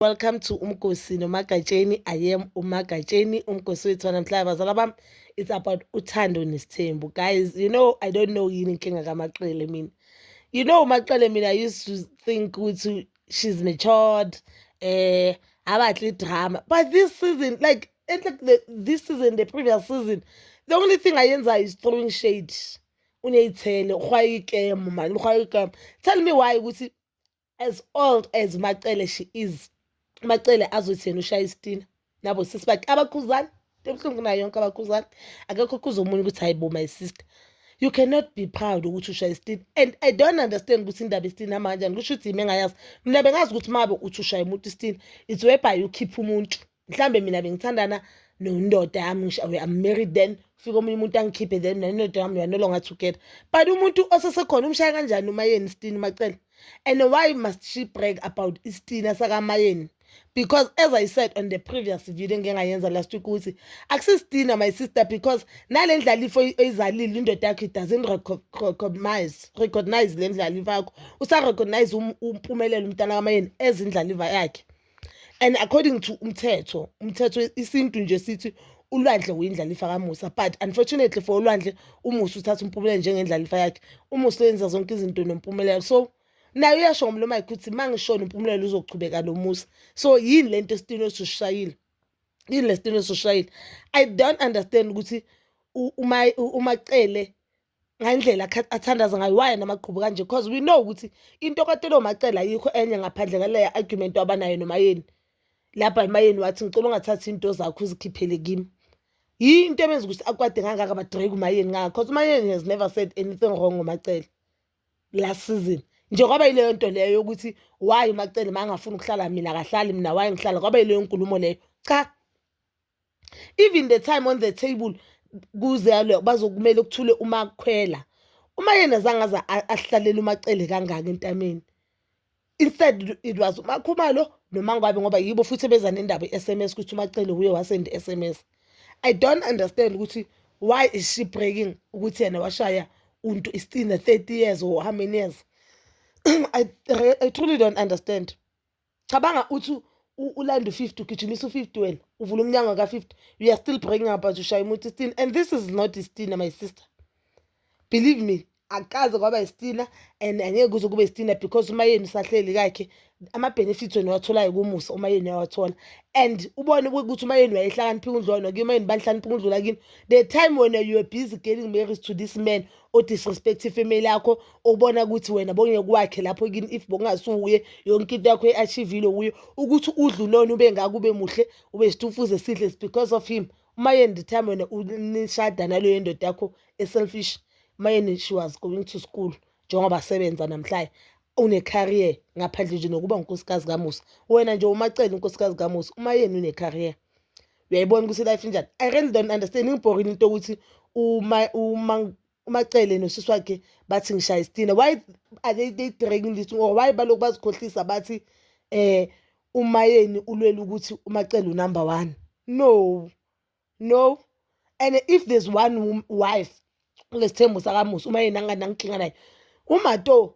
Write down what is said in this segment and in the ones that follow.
Welcome to Umgosi noMagatsheni. I am uMagatsheni, Umgosi wethu namhlanje bazala bami. It's about uthando nesithembu. Guys, you know I don't know yini inkinga kamaqele mina. You know umaqele mina I used to think ukuthi she's matured. Eh, abahle drama. But this season like and like the, this season the previous season the only thing ayenzayo is throwing shade. Uneyithele, ukhwayikemo manje, ukhwayikemo. Tell me why ukuthi as old as macele she is macele azothi yena ushaya isitina nabo sisi bakhe abakhuzani ebuhlungu nayo yonke abakhuzani akekho khuza omunye ukuthi hayi bo my sister you cannot be proud ukuthi ushaya isitina and i don't understand ukuthi indaba isitina hamba kanjani kusho ukuthi yimi engayazi mina bengazi ukuthi mabe uthi ushaya umuntu isitina it's whereby ukhipha umuntu mhlambe mina bengithandana nondoda yami ngisho I'm married then fika omunye umuntu angikhiphe then nendoda yami we are no longer together but umuntu osesekhona umshaya kanjani umayeni isitini macela and why must she brag about isitina sakamayeni because as i said on the previous video engingayenza last week ukuthi akusisitina my sister because nale ndlalifo oyizalile indoda yakho it doesn't recognize recognize le ndlalifa yakho usarecognize um, umpumelelo umntana kamayeni ezindlaliva yakhe and according to umthetho umthetho isintu nje sithi ulwandle uyindlalifa kamusa but unfortunately for ulwandle umusa uthatha umpumela njengendlalifa yakhe umusa uyenza zonke izinto nompumelelo so naye uyasho ngomlomo wakhe ukuthi uma ngishona umpumelelo uzochubeka nomusa so yini le nto esitini osishayile yini le sitini osishayile i don't understand ukuthi umacele ngendlela athandaza ngayo waye namagqubu kanje because we know ukuthi into katelo macela ayikho enye ngaphandle ngaleya argument wabanayo nomayeni lapha emayeni wathi ngicela ungathathi into zakho uzikhiphele kimi yini into ebenza ukuthi akwade ngangaka badrake umayeni ngakho because umayeni has never said anything wrong ngomacela last season nje kwaba yileyo nto leyo yokuthi waye umacele ma angafuni ukuhlala mina akahlali mina waye ngihlala kwaba yileyo nkulumo leyo cha even the time on the table kuzalwe bazokumele kuthule uma kukhwela uma yena zange aza ahlalele umacele kangaka entameni instead it was umakhumalo nomangwabe ngoba yibo futhi beza nendaba i-sms ukuthi umacele wuye wasend i-sms i don't understand ukuthi why is she breaking ukuthi yena washaya untu istina 30 years or how many years I, I truly don't understand cabanga uthi ulanda u-50 ugijimisa u-50 wena uvula umnyango ka-50 you are still bringing up as ushaya umuntu istina and this is not istina my sister believe me akaze kwaba istina and angeke kuze kube istina because umayeni usahleli kakhe ama-benefits wena watholayo kumusa umayeni uyawathola and ubone ukuthi umayeni wayehlakaniphika undlwana kuye umayeni banihlaniphika undlula kini the time wena you are busy getting married to this man odisrespect ifamily yakho obona ukuthi wena bongeke kwakhe lapho kini if bongasuye yonke into yakho eachievile kuyo ukuthi udlulona ube ngako ube muhle ube stufuze sihle because of him uma yena the time wena nishada naleyo ndoda yakho eselfish uma yena she was going to school njengoba sebenza namhlanje une-career ngaphandle nje nokuba ngunkosikazi kamusa wena nje umacele unkosikazi kamusa uma yena une-career uyayibona ukuthi life injani i really don't understand ingibhorini into yokuthi umacele nosisi wakhe bathi ngishaya isitina why are they, they dragging this or why balokhu bazikhohlisa bathi eh umayeni ulwela ukuthi umacele unumber one no no and if there's one wife kulesithembu sakamusa uma yena anganankinga naye umato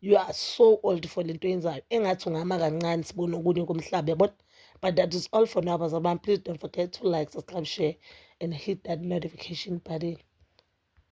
you are so old for lento yenzayo engathi ungama kancane sibone okunye komhlaba yabona but that is all for now bazalwane please don't forget to like subscribe share and hit that notification button